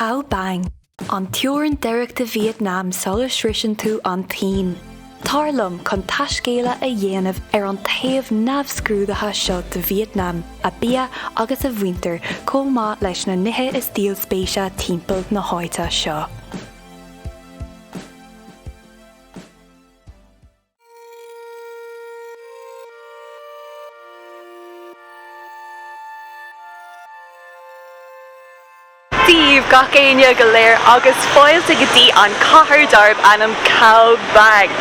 Cao Bang, an teorainn deiridh de Vietnam sula sroiseann tú an tSín. Tar liom chun taiscéaladh a dhéanamh ar an taobh neamhscrúdaithe seo de Vietnam, a bia agus a mhuintir chomh maith leis na nithe is díol spéise timpeall na háite seo. Sé bhur mbeatha gach éinne go léir agus fáilte go dtí an cathair darb ainm Cao Bang.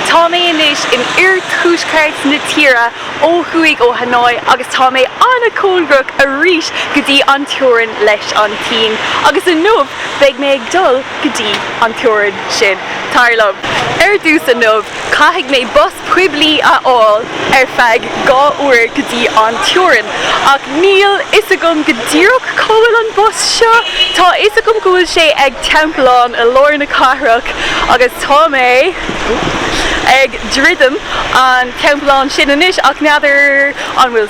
Tá mé anois in oirthuaisceart na tíre ó thuaidh ó Hanoi agus tá mé an-chóngarach arís go dtí an teorainn leis an tSín agus inniu beidh mé ag dul go dtí an teorainn sin, tar liom. Ar dtús inniu, caithfidh mé bus poiblí a fháil ar feadh dhá uair go dtí an teorainn, ach níl fhios agam go díreach cá bhfuil an bus seo. Tá fhios agam go bhfuil sé ag Teampullán i lár na cathrach agus tá mé ag druidim an Teampullán sin anois ach n'fheadar an bhfuil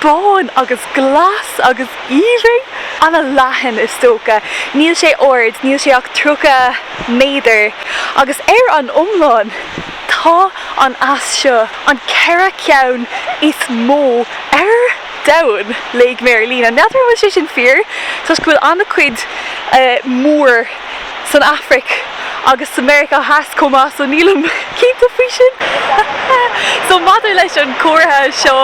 bán agus glas agus aoibhinn. Ana leathan is dócha. Níl sé ard, níl sé ach tríocha méadar, agus ar an iomlán tá an eas seo, an ceithre ceann is mó ar domhan, léigh mé ar líne. N'fheadar an bhfuil sé sin fíor toisc go bhfuil ana cuid mór. san Afraic agus sa Meiriceá Theas chomh maith so nílim cinnte faoi sin so maidir leis an gcomhartha seo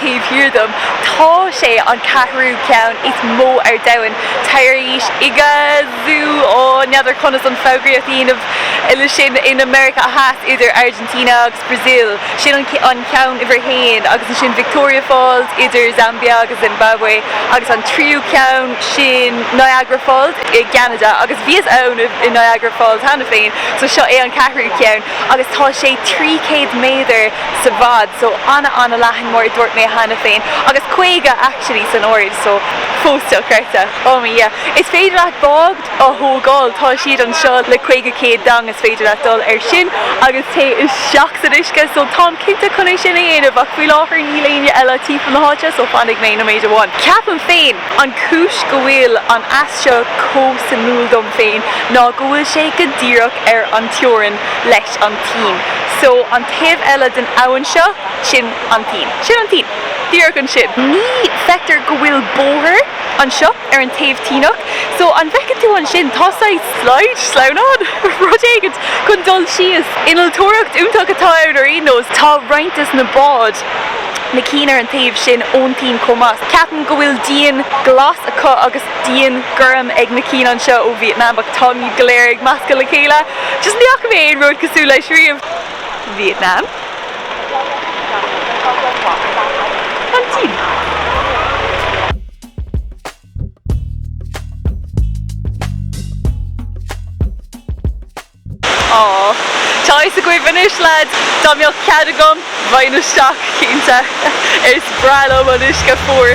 taobh thiar dom tá sé an ceathrú ceann is mó ar domhan tar éis Iguazu oh n'fheadar conas an foghraíocht a dhéanamh ar sin i Meiriceá Theas idir Argentina agus. Brazil. Sin an ceann uimhir a haon agus ansin Victoria Falls idir Zambia agus Zimbabwe agus an tríú ceann sin Niagara Falls i gCeanada agus bhíos ann i Niagara Falls cheana féin so seo é an ceathrú ceann agus tá sé trí céad méadar sa bhfad so an-an-leathan mar a dúirt mé cheana féin agus caoga actually san airde so fós dochreidte oh mo Dhia is féidir leat bád a thógáil. Tá siad anseo le caoga céad dong is féidir leat dul ar sin agus téigh isteach san uisce so táim cinnte chun é sin a dhéanamh ach faoi láthair níl éinne eile timpeall na háite so fanfaidh mé nóiméad amháin. Ceapaim féin an cúis go bhfuil an eas seo chomh suimiúil dom féin ná go bhfuil sé go díreach ar an teorainn leis an tSín so an taobh eile den abhainn seo sin an tSín. Sin an tSín. Díreach ansin. Feictear go bhfuil bóthar. anseo ar an taobh tSíneach so an bhfeiceann tú ansin tá saghas slide, sleamhnán? rud éigint chun dul síos. Innealtóireacht iontach atá ann ar aon nós. Tá roinnt des na báid, na cinn ar an taobh sin ón tSín chomh maith. Ceapaim go bhfuil díon glas acu agus díon gorm ag na cinn anseo ó Vietnam ach táimid go léir ag meascadh le chéile. Just ní fhaca mé aon rud cosúil leis riamh. Vietnam, An tSín. Aww. Tá fhios agaibh anois lads, dá mbeadh cead agam, bheinn isteach cinnte. Is breá liom an uisce fuar.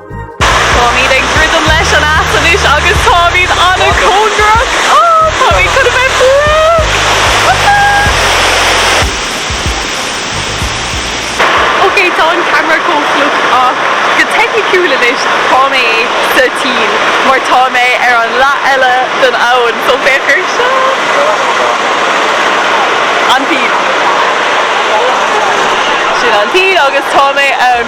Táimid ag druidim leis an Eas anois agus táimid an-cóngarach! Ohh! Táimid chun a bheith breag! Woohoo! Ok, tá an ceamara chomh fliuch ach go teicniciúil anois tá mé sa tSín mar tá mé ar an leath eile den abhann so féach ar seo! An tSín! Sin an tSín agus tá mé ann!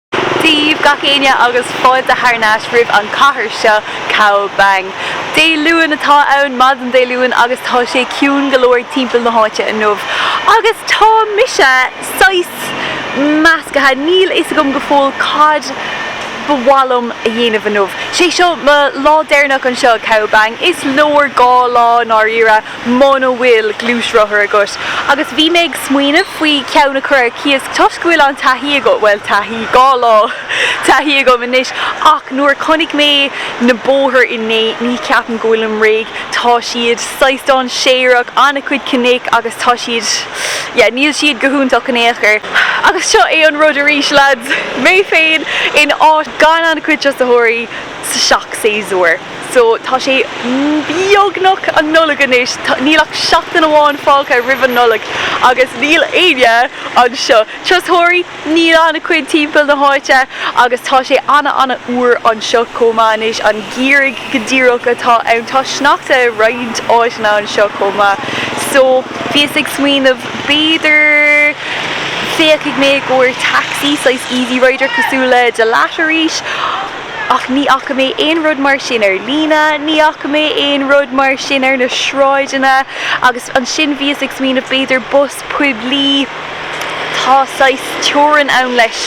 daoibh gach éinne agus fáilte thar n-ais roimh an chathair seo, Cao Bang. Dé Luain atá ann, maidin Dé Luain, agus tá sé ciúin go leor timpeall na háite inniu. Agus tá mise saghas measctha, níl fhios agam go fóill cad ba mhaith liom a dhéanamh inniu. Sé seo mo lá deireanach anseo, Cao Bang. Is leor dhá lá i ndáiríre. muna bhfuil gluaisrothar agat agus bhí mé ag smaoineamh faoi ceann a chur ar cíos toisc go bhfuil an-taithí agam, bhuel taithí, dhá lá taithí agam anois ach nuair a chonaic mé na bóthair inné ní cheapaim go bhfuilim réidh, tá siad saghas dainséarach, an-chuid cnoic agus tá siad, yeah níl siad go hiontach in aon chor. Agus seo é an rud arís lads, mé féin in áit gan an-chuid turasóirí, seacht séasúr so tá sé beagnach an Nollaig anois, níl ach seachtain amháin fágtha roimh an Nollaig agus níl éinne anseo. Turasóirí, níl ana cuid timpeall na háite agus tá sé ana ana fhuar anseo chomh maith anois, an geimhreadh go díreach atá ann. Tá sneachta i roinnt áiteanna anseo chomh maith so bhíos ag smaoineamh b'fhéidir féachfaidh mé i gcomhair taxi, saghas easy rider cosúil le Da Lat arís. Ach ní fhaca mé aon rud mar sin ar líne, ní fhaca mé aon rud mar sin ar na sráideanna agus ansin bhíos ag smaoineamh b'fhéidir bus poiblí, tá saghas teorann ann leis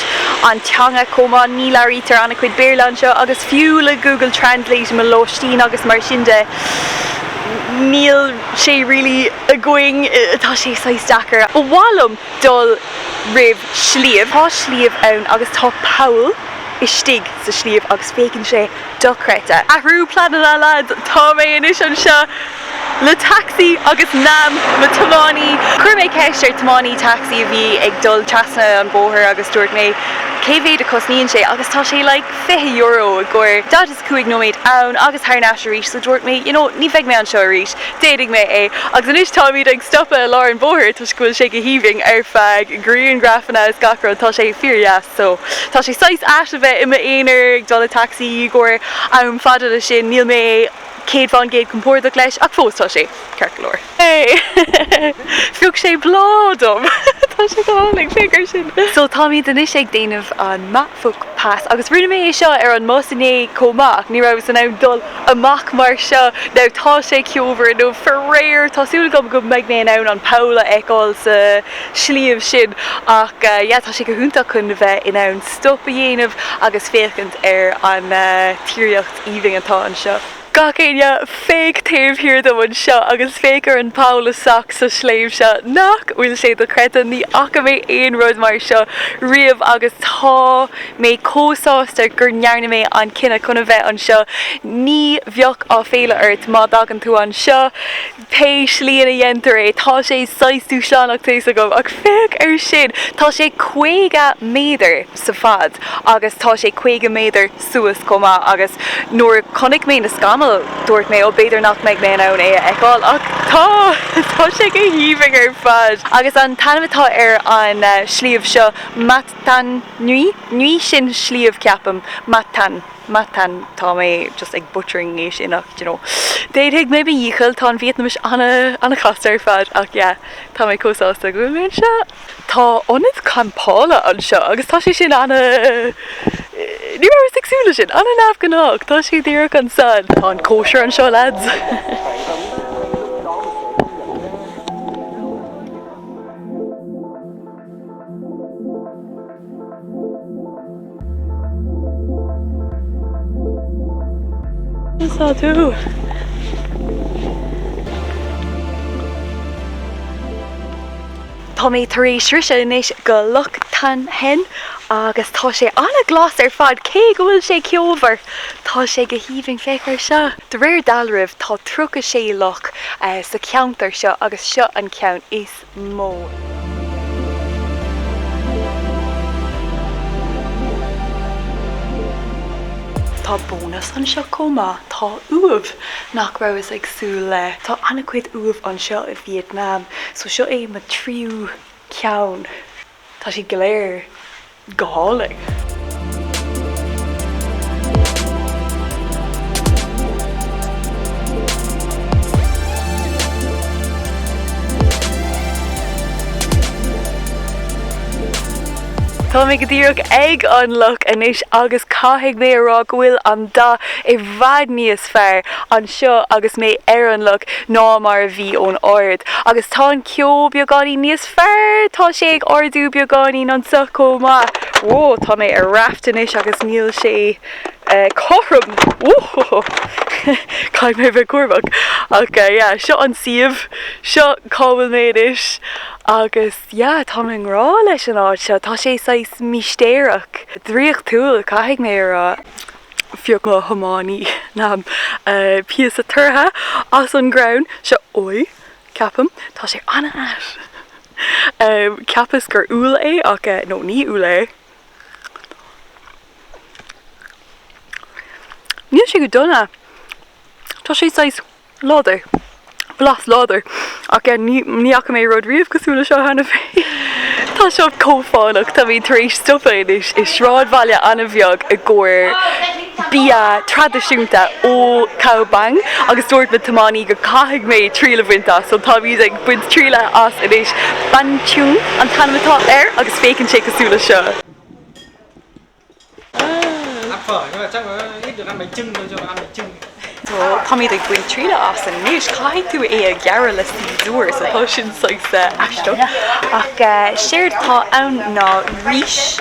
an teanga chomh maith, ní labhraítear an-chuid Béarla anseo agus fiú le Google Translate i mo lóistín agus mar sin de, níl sé really againn, tá sé saghas deacair. Ba mhaith liom dul roimh sliabh, tá sliabh ann agus tá poll. istigh sa sliabh agus féachann sé dochreidte. Athrú pleananna lads, tá mé anois anseo le taxi agus Nam, mo tiománaí. Chuir mé ceist ar tiománaí taxi a bhí ag dul trasna an bóthar agus dúirt mé cé mhéad a cosnaíonn sé agus tá sé like fiche euro i gcomhair daichead is cúig nóiméad ann agus thar n-ais arís so dúirt mé you know ní bheidh mé anseo arís, déanfaidh mé é agus anois táimid ag stopadh i lár an bhóthair toisc go bhfuil sé go haoibhinn ar feadh grianghrafanna is gach rud tá sé fíordheas. So. Tá sé saghas ait a bheith i m'aonar ag dul i taxi i gcomhair am fada le sin. Níl mé céad faoin gcéad compordach leis ach fós tá sé ceart go leor. Phioc sé bláth dom! Tá sé go hálainn, féach air sin! So táimid anois ag déanamh an Ma Phuc Pass agus rinne mé é seo ar an mbus inné chomh maith. Ní rabhas in ann dul amach mar seo. Now tá sé ceomhar inniu faraor! Tá súil agam go mbeidh mé in ann an poll a fheiceáil sa. sliabh sin ach yeah tá sé go hiontach chun a bheith in ann stop a dhéanamh agus féachaint ar an tírdhreach aoibhinn atá anseo. Gach éinne féach taobh thiar dom anseo agus féach ar an bpoll isteach sa sliabh seo. Nach bhfuil sé dochreidte? Ní fhaca mé aon rud mar seo riamh agus tá mé chomh sásta gur ndearna mé an cinneadh chun a bheith anseo. Ní bheadh aiféala ort má dtagann tú anseo. Pé slí ina dhéantar é, tá sé saghas dúshlánach tá a fhios agam ach féach air sin! Tá sé caoga méadar sa fad agus tá sé caoga méadar suas chomh maith agus nuair a chonaic mé na scamaill dúirt mé ó b'fhéidir nach mbeidh mé in ann é a fheiceáil ach tá! Tá sé go haoibhinn ar fad! Agus an t-ainm atá ar an sliabh seo Mat Than Nui? Nui sin sliabh ceapaim. Mat Than. Mat Than, tá mé just ag butchering é sin ach d'you know, déanfaidh mé mo dhícheall, tá an Vítneamis an-chasta ar fad ach yeah, tá mé chomh sásta go bhfuil mé anseo. Tá ionad campála anseo agus tá sé sin ana, ní rabhas ag súil leis sin, an-neamhghnách, tá sé díreach ansan. Tá an cóisir anseo lads! Tá mé tar éis sroiseadh anois go Loch Thang Hen agus tá sé an-ghlas ar fad cé go bhfuil sé ceomhar. Tá sé go haoibhinn féach ar seo. De réir dealraimh tá 36 loch sa cheantar seo agus seo an ceann is mó. Tá bónas anseo chomh maith. Tá uaimh nach rabhas ag súil le. Tá an-chuid uaimh anseo i Vietnam so seo é mo tríú ceann. Tá siad go léir go hálainn. Tá mé go díreach ag an loch anois agus caithfidh mé a rá go bhfuil an dath i bhfad níos fearr anseo agus mé ar an loch ná mar a bhí ón ard. Agus tá an ceo beagáinín níos fearr. Tá sé ag ardú beagáinín anso chomh maith. Whoa, tá mé ar raft anois agus níl sé cothrom. Whoa! Caithfidh mé bheith cúramach. Ach yeah, seo an suíomh. Seo cá bhfuil mé anois. Agus yeah, táim i ngrá leis an áit seo. Tá sé saghas místéireach. Draíochtúil, caithfidh mé a rá. Phioc mo thiománaí, Nam, píosa tortha as an gcrann seo. Oi! Ceapaim. Tá sé an-ait. Cheapas gur úll é ach no, ní úll é. Níl sé go dona. Tá sé saghas láidir. Blas láidir. Ach ní fhaca mé rud riamh cosúil le seo cheana féin. Tá seo chomh fánach. Táimid tar éis stopadh anois i sráidbhaile an-bheag i gcomhair. bia traidisiúnta ó Cao Bang agus dúirt mo thiománaí go caithfidh mé triail a bhaint as. So táimid ag baint triail as anois. Banh Chung an t-ainm atá air agus féachann sé cosúil le seo. So táimid ag baint triail as anois. Caithfidh tú é a ghearradh le siosúr. So tá sin saghas aisteach. Ach séard atá ann ná rís.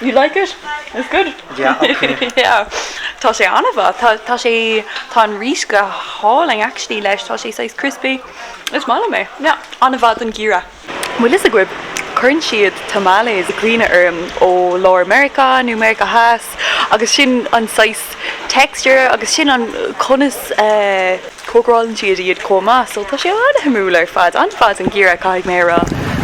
You like it? It's good. Yeah, ok. Yeah. Tá sé an-mhaith. Tá, tá sé, tá an rís go hálainn actually leis. Tá sé saghas crispy. Is maith liom é. Yeah. An-mhaith don gheimhreadh. Bhfuil fhios agaibh, cuireann siad tamales i gcuimhne orm ó lár Meiriceá nó Meiriceá Theas. agus sin an saghas texture agus sin an conas a. cócarálann siad iad chomh maith so tá sé an-shuimiúil ar fad, ar fad dáiríre caithfidh mé a rá.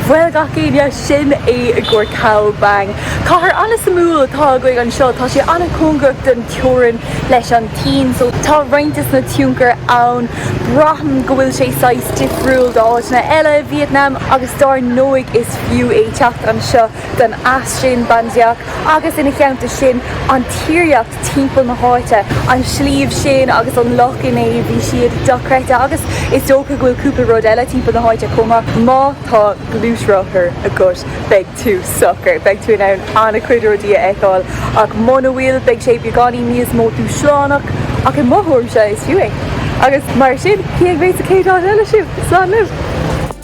Bhuel gach éinne, sin é i gcomhair Cao Bang. Cathair an-suimiúil atá againn anseo, tá sé an-cóngarach don teorainn leis an tSín so tá roinnt de na tionchair ann. Braithim go bhfuil sé saghas difriúil d'áiteanna eile i Vítneam agus dar ndóigh is fiú é teacht anseo. don eas sin, Ban Gioc, agus ina theannta sin an tíreolaíocht timpeall na háite, an sliabh sin agus an loch inné, bhí siad dochreidte agus is dócha go bhfuil cúpla rud eile timpeall na háite chomh maith. Má tá gluaisrothar agat beidh tú socair, beidh tú in ann an-chuid rudaí a fheiceáil ach muna bhfuil beidh sé beagáinín níos mó dúshlánach ach i mo thuairimse is fiú é. Agus mar sin, cífidh mé sa chéad áit eile sibh? Slán libh!